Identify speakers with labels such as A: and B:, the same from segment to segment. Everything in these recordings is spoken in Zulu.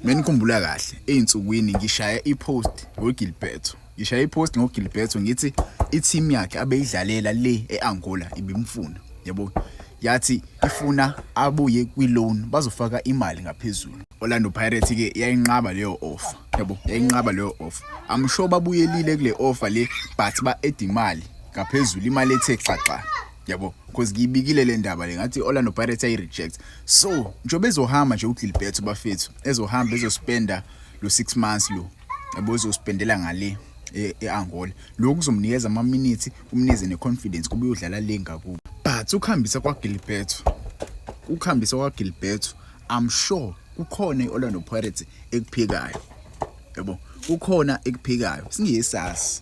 A: Menikhumbula kahle ezinsukwini ngishaya ipost ngoGilberto. Ngishaya ipost ngoGilberto ngithi i-team yakhe abeyidlalela le eAngola ibimfuna. Yabo yathi ifuna abuye kwi-loan bazofaka imali ngaphezulu. Orlando Pirates ke yayinqaba leyo offer. Yabo yayinqaba leyo offer. I'm sure babuyelile kule offer le but ba-add imali ngaphezulu imali ethe xaxa. yabo because ngiyibikile le ndaba le ngathi i-orlando pirates ayi-reject so njengoba ezohamba nje ugilbert bafethu ezohamba ezospenda lo six months lo yabo ezospendela ngale e, e-angola lokhu kuzomnikeza amaminithi kumnikeze ne-confidence kuba uyodlala le ngakubo but ukuhambisa kwagilbert ukuhambisa kwagilbert i'm sure kukhona i-orlando pirates ekuphikayo yabo kukhona ekuphikayo singesazi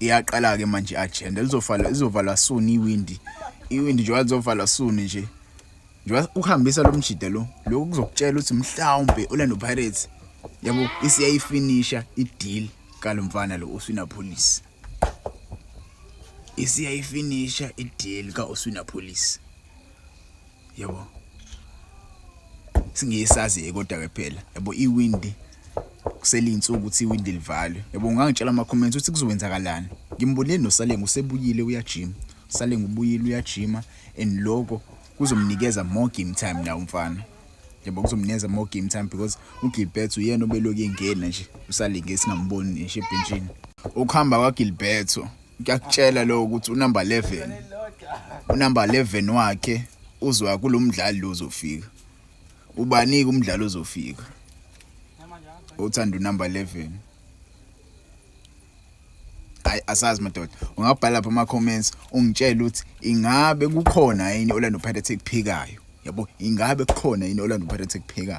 A: iyaqala ke manje agenda lizovala izovalwa soon iwindi iwindi njengoba lizovalwa soon nje njengoba ukuhambisa lo mjida lo lokhu kuzokutshela ukuthi mhlawumbe Orlando Pirates yabo isiyayifinisha ideal kalo mfana lo uswina police isiyayifinisha ideal ka uswina police yebo singiyisazi kodwa ke phela yebo iwindi kuselinsuku ukuthi iwindi livalwe yebo ungangitshela ama comments ukuthi kuzowenzakalani ngimbonile noSalengu usebuyile uyajima Salengu ubuyile uyajima and lokho kuzomnikeza more game time na umfana yebo kuzomnikeza more game time because uGilbert uyena obeloku engena nje usalingesi ngamboni nje ebhenjini ukuhamba kwaGilberto kuyakutshela lo ukuthi unumber 11 unumber 11 wakhe uzwa kulomdlali lozofika ubanike umdlalo ozofika othanda unumber 11 hayi asazi madoda ungabhala lapha ama comments ungitshela ukuthi ingabe kukhona yini Orlando Pirates ekuphikayo yabo ingabe kukhona yini Orlando Pirates ekuphikayo